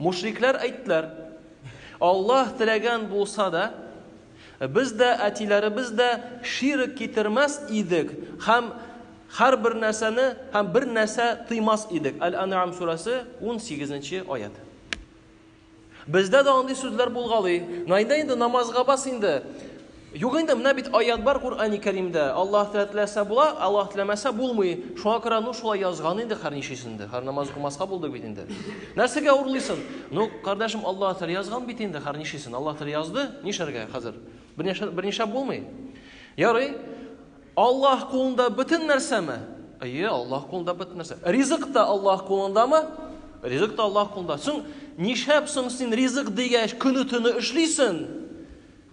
Мушрикләр әйттеләр, Аллаһ теләгән булса да, без дә, әтиләребез дә ширк китермәс идек һәм һәр бер нәрсәне һәм бер нәрсә тыймас идек. Әл-Ан'ам сүрәсе 18 нче аят. Бездә дә андый сүзләр булгалый. Найда инде намазга бас инде. Юк инде, менә бит аят бар Куръани Кәримдә, Аллаһ теләсә була, Аллаһ теләмәсә булмый. Шуңа күрә ну шулай язган инде хәр ничесен дә. Хәр намаз укымаска булды бит инде. Нәрсәгә урлыйсың? Ну, кардәшем, Аллаһ теле язган бит инде хәр ничесен. Аллаһ теле язды, нишләргә хәзер? Берничә берничә булмый. Ярый. Аллаһ кулында бөтен нәрсәме? Әйе, Аллаһ кулында бөтен нәрсә. Ризык та Аллаһ кулындамы? Ризык та Аллаһ кулында. Соң нишләп соң син ризык дигәч көне-төне эшлисең?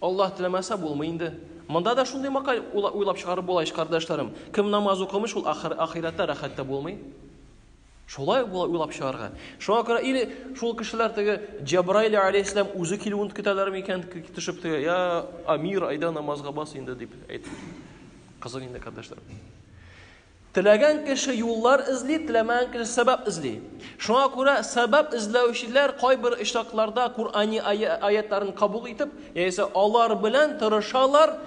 Аллаһ теләмәсә булмый инде. Монда да шундый макаль уйлап чыгарып була ич, кардәшләрем. Кем намаз укымый, шул ахыр, ахирәттә рәхәт тә булмый. Шулай була уйлап чыгарга. Шуңа күрә или шул кешеләр теге Җабраил алейһиссәлам үзе килүен көтәләр микән, төшеп теге, я Амир, айда намазга бас инде дип әйтеп. Кызык инде, кардәшләрем. Теләгән кеше юллар эзли, теләмәгән кеше сәбәп эзли. Шуңа күрә сәбәп эзләүчеләр кайбер очракларда Куръани аятларын кабул итеп, яисә алар белән тырышалар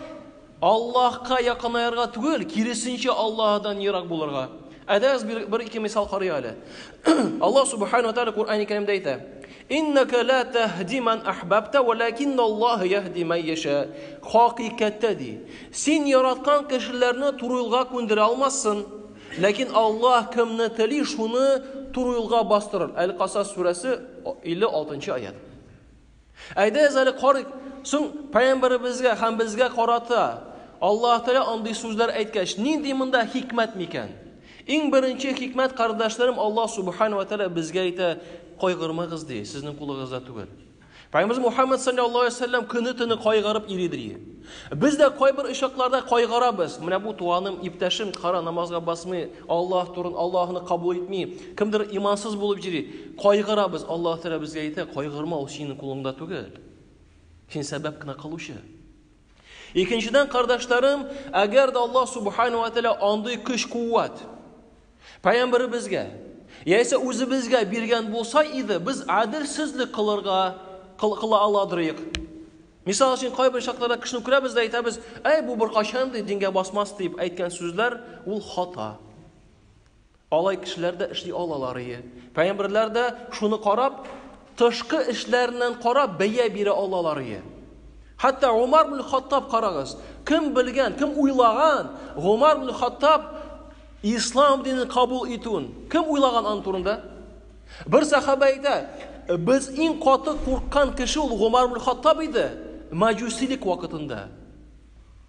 Аллаһка якынаерга түгел, киресенчә Аллаһдан ерак булырга. Әдәс бер, бер ике мисал карый әле. Аллаһ Субхану ва Тааля Куръани Кәримдә әйтә: Иннәкә лә тәһди мән әһбәбтә, вәләкинналлаһ яһди мән яшә. Хакыйкатьтә, ди, син яраткан кешеләрне туры юлга күндерә алмассың, ләкин Аллаһ кемне тели, шуны туры юлга бастырыр. Әл-Касас сүрәсе, 56 нчы аять. Әйдәгез әле карыйк, соң пәйгамбәребезгә һәм безгә карата Аллаһ Тәгалә андый сүзләр әйткәч, нинди монда хикмәт микән? Иң беренче хикмәт, кардәшләрем, Аллаһ Субхану ва Тәгалә безгә әйтә, кайгырмагыз ди, сезнең кулыгызда түгел. Пәйгамберimiz Мухаммад саллаллаһу алейһи ва сәлләм көне төне кайгырып йөри ди. Без дә кайбер очакларда кайгырабыз. Менә бу туганым, иптәшем кара намазга басмый, Аллаһ турын Аллаһны кабул итми, кемдер имансыз булып йөри. Кайгырабыз. Аллаһ Тәгалә безгә әйтә, кайгырма, ул синең кулыңда түгел. Син сәбәп кенә кылучы. Икенчедән, кардашларым, әгәр дә Аллаһ Субхану ва Тәала андый көч-куәт пәйгамбәребезгә яисә үзебезгә биргән булса иде, без әдилсезлек кылырга кыла аладырыйк. Мисал өчен, кайбер чакларда кешене күрәбез дә әйтәбез, "Әй, бу беркайчан ди дингә басмас" дип әйткән сүзләр ул хата. Алай кешеләр дә эшли алаларые. Пәйгамберләр дә шуны карап, тышкы эшләреннән карап бәя бирә алаларые. Хәтта Умар бин Хаттаб карагыз, кем белгән, кем уйлаган, Умар бин Хаттаб ислам динен кабул итүен, кем уйлаган аның турында? Бер сахаба әйтә, без иң каты курккан кеше ул Умар бин Хаттаб иде, маҗусилек вакытында.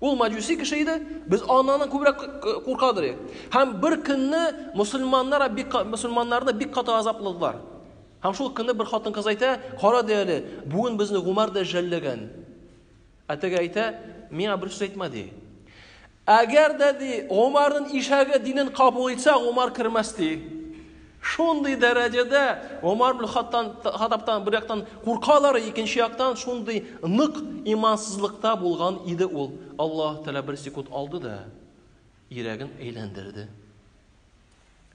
Ул маҗуси кеше иде, без аннан күбрәк куркадыр. Һәм бер көнне мусульманнар бик мусульманнарны бик каты азапладылар. Һәм шул көнне бер хатын-кыз әйтә, "Кара ди әле, бүген безне Гумар да жәлләгән." Ә теге әйтә, "Миңа бер сүз әйтмә" ди. Әгәр дә ди, Гумарның ишәге динен кабул итсә, Гумар кермәс ди. Шундый дәрәҗәдә Гомар бен Хаттабтан бер яктан куркалар, икенче яктан шундый нык имансызлыкта булган иде ул. Аллаһ Тәгалә бер секунд алды да йөрәген әйләндерде.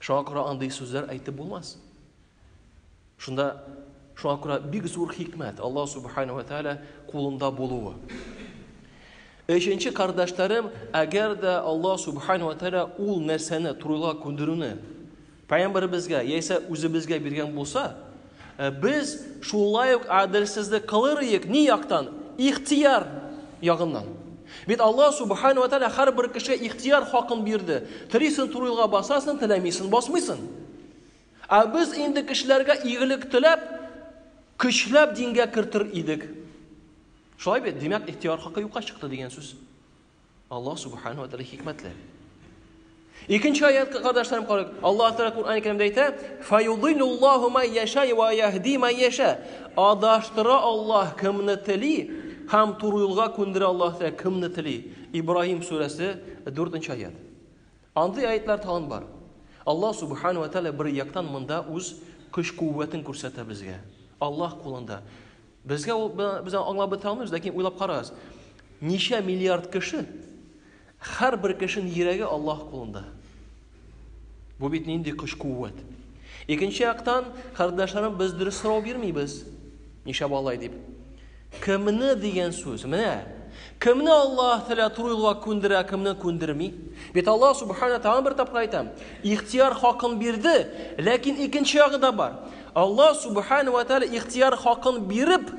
Шуңа күрә андый сүзләр әйтеп булмас. Шунда шуңа күрә бик зур хикмәт Аллаһ Субхану ва Тәгалә кулында булуы. Өченче кардашларым, әгәр дә Аллаһ Субхаһу ва Тәгалә ул нәрсәне турыга күндерүне пәйгамбәребезгә яисә үзебезгә биргән булса, без шулай ук адельсезлек кылыр иек ни яктан? Ихтияр ягыннан. Бит Аллаһ Субхаһу ва Тәгалә һәрбер кешегә ихтияр хакын бирде. Телисен турыга басасың, теләмисен басмыйсың. Ә без инде кешеләргә игелек теләп, көчләп дингә кертер идек. Шулай бит, димәк, ихтияр хакы юкка чыкты дигән сүз. Аллаһ субхану ва тааля хикмәтле. Икенче аят кардашларым карыйк. Аллаһ Тәгалә Куръан Кәримдә әйтә: "Фаюдиллуллаху ма яша ва яһди ма яша". Адаштыра Аллаһ кемне тели һәм туры юлга күндерә Аллаһ Тәгалә кемне тели. Ибраһим сүрәсе 4-нче аят. Андый аятлар тагын бар. Аллаһ субхану ва тааля бер яктан монда үз көч-куәтен күрсәтә безгә. Аллаһ кулында. Безгә ул без аңлап бетә алмыйбыз, ләкин уйлап карагыз. Ничә миллиард кеше һәрбер кешенең йөрәге Аллаһ кулында. Бу бит нинди көч-куәт. Икенче яктан, кардәшләрем без дөрес сорау бирмибез. Ничә балай дип. Кемне дигән сүз? Менә Кемне Аллаһ Тәгалә туры юлга күндерә, кемне күндерми? Бит Аллаһ Субхана Тәгалә бер тапкыр әйтә, ихтияр хакын бирде, ләкин икенче ягы да бар. Аллаһ Субхана вә Тәгалә ихтияр хакын биреп,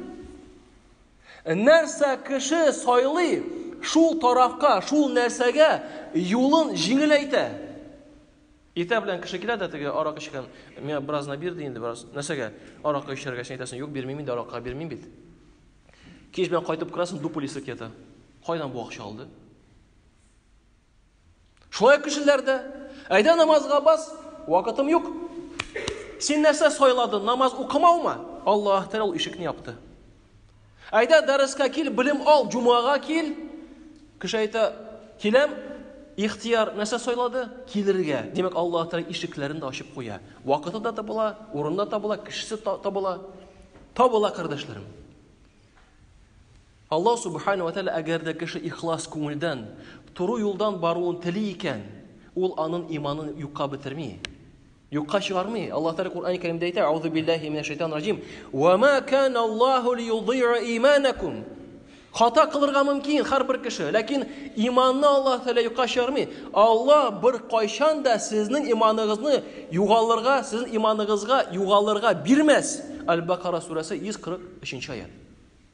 нәрсә кеше сайлый, шул тарафка, шул нәрсәгә юлын җиңеләйтә. Иртә белән кеше килә дә теге арак эчкән, миңа бераз на бир ди инде, бераз. Нәрсәгә? Аракка эчәргә син әйтәсең, юк, бирмим инде, аракка бирмим бит. Кич белән кайтып керәсең, дупылисы кита. Кайдан бу акча алды? Шулай кешеләр дә, әйдә намазга бас, вакытым юк. Син нәрсә сайладың, намаз укымаумы? Аллаһ Тәгалә ул ишекне япты. Әйдә дәрескә кил, белем ал, җумага кил. Кеше әйтә, киләм, ихтияр нәрсә сайлады? Килергә. Димәк, Аллаһ Тәгалә ишекләрен дә ачып куя. Вакыты да табыла, урында табыла, кешесе табыла. Табыла, кардәшләрем. Аллаһ Субхана ва Тәгалә әгәр дә кеше ихлас күңелдән, туры юлдан баруын тели икән, ул анын иманын юкка бетерми, юкка чыгармый. Аллаһ Тәгалә Коръәни Кәримдә әйтә, Аузу биллаһи минәш шайтан раҗим, Ва ма кана Аллаһу лиюдиа иманакум. Хата кылырга мөмкин һәрбер кеше, ләкин иманны Аллаһ Тәгалә юкка чыгармый. Аллаһ бер кайчан да сезнең иманыгызны югалырга, сезнең иманыгызга югалырга бирмәс. Аль-Бакара сүрәсе 143 нче аят.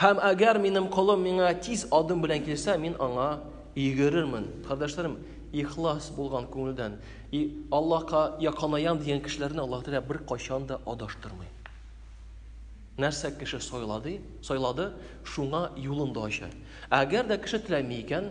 Һәм әгәр минем колым миңа тиз адым белән килсә, мин аңа йөгерермен. Кардәшләрем, ихлас булган күңелдән и Аллаһка якынаям дигән кешеләрне Аллаһ Тәгалә беркайчан да адаштырмый. Нәрсә кеше сайлады, сайлады, шуңа юлын да ача. Әгәр дә кеше теләми икән,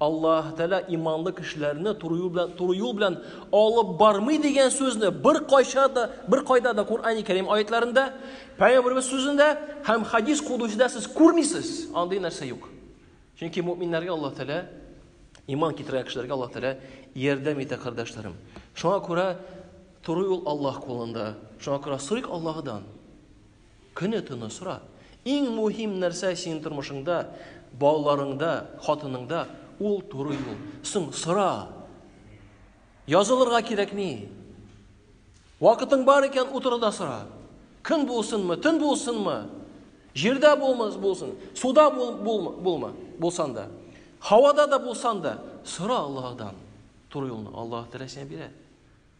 Аллаһ Тәгалә иманлы кешеләрне туры юл белән туры юл белән алып бармый дигән сүзне бер кайча да бер кайда да Коръәни Кәрим аятларында, Пәйгамбәрбез сүзендә һәм хадис кудусида сез күрмисез. Андый нәрсә юк. Чөнки мөэминнәргә Аллаһ Тәгалә иман китергән кешеләргә Аллаһ Тәгалә ярдәм итә, кардәшләрем. Шуңа күрә туры юл Аллаһ кулында. Шуңа күрә сорыйк Аллаһыдан. Көне-төне сора. Иң мөһим нәрсә синең тормышыңда, балаларыңда, хатыныңда ул туры юл. Соң сора. Язылырга кирәкми. Вакытың бар икән, утыр да сора. Көн булсынмы, төн булсынмы? Җирдә булмас булсын, суда бул, бул, булма, булсан да. Һавада да булсан да, сора Аллаһыдан. Туры юлны Аллаһ теләсә бирә.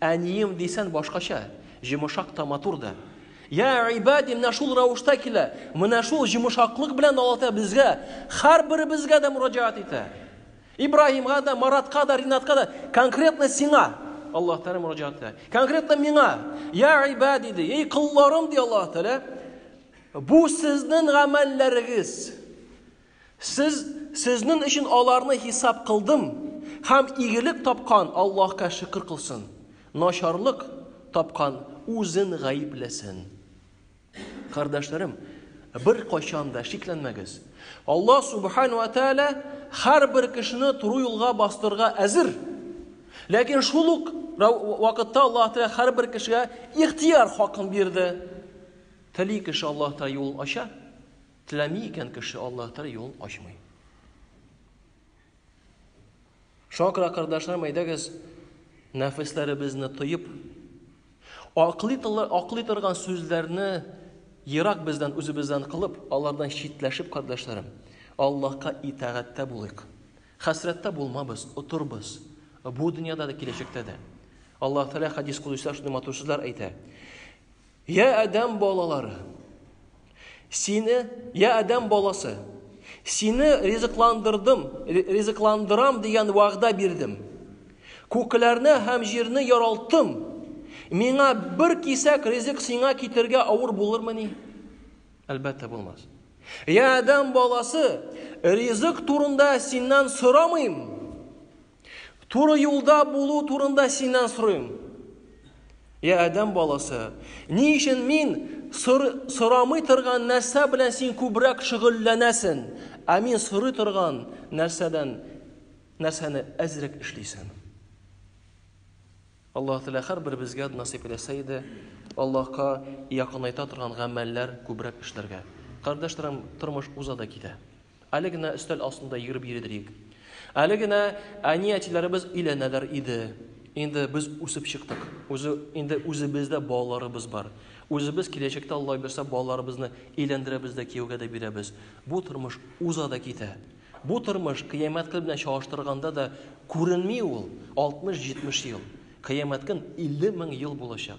Әнием дисән башкача, җомышак та матур да. Я ибади, менә шул рәвештә килә, менә шул җомышаклык белән Аллаһ безгә, һәрберебезгә дә мөрәҗәгать итә. Ибраһимга да, Маратка да, Ринатка да, конкретно сиңа Аллаһ Тәгалә мөрәҗәгать итә. Конкретно миңа, я ибади, ди, ей колларым, ди Аллаһ Тәгалә, бу сезнең гамәлләрегез. Сез, сезнең өчен аларны хисап кылдым, һәм игелек тапкан Аллаһка шөкер кылсын, начарлык тапкан үзен гаепләсен. Кардәшләрем, беркайчан да шикләнмәгез. Аллаһ Субхану ва Тәгалә һәрбер кешене туры юлга бастырырга әзер. Ләкин шул ук вакытта Аллаһ Тәгалә һәрбер кешегә ихтияр хакын бирде. Тели кеше Аллаһ Тәгалә юлын ача, Теләми икән кеше, Аллаһ Тәгалә юлын ачмый. Шуңа күрә, кардәшләрем, әйдәгез, нәфесләребезне тоеп, аклый, аклый торган сүзләрне ерак бездән, үзебездән кылып, алардан читләшеп, кардәшләрем, Аллаһка итагатьтә булыйк. Хәсрәттә булмабыз, утырбыз. Бу дөньяда да, киләчәктә дә. Аллаһ Тәгалә хадис кудыйсында шундый матур сүзләр әйтә. Я Адәм балалары! Сине, я Адәм баласы! Сине ризыкландырдым, ризыкландырам дигән вәгъдә бирдем. Күкләрне һәм җирне яралттым. Миңа бер кисәк ризык сиңа китергә авыр булырмыни? Әлбәттә булмас. Я Адәм баласы, ризык турында синнән сорамыйм. Туры юлда булу турында синнән сорыйм. Я Адәм баласы, ни өчен мин сор, сорамый торган нәрсә белән син күбрәк шөгыльләнәсен, ә мин сорый торган нәрсәдән нәрсәне әзрәк эшлисен? Аллаһ Тәгалә һәр беребезгә насыйп итсә иде, Аллаһка якынайта торган гамәлләр күбрәк эшләргә. Кардәшләрем, тормыш уза да китә. Әле генә өстәл астында йөреп йөридек. Әле генә әни-әтиләребез өйләнәләр иде. Инде без үсеп чыктык. Үзе инде үзебездә балаларыбыз бар. Үзебез киләчәктә Алла бирсә балаларыбызны өйләндерәбез дә кияүгә дә бирәбез. Бу тормыш уза да китә. Бу тормыш кыямәт көн белән чагыштырганда да күренми ул 60-70 ел. Кыямәт көн 50 мең ел булачак.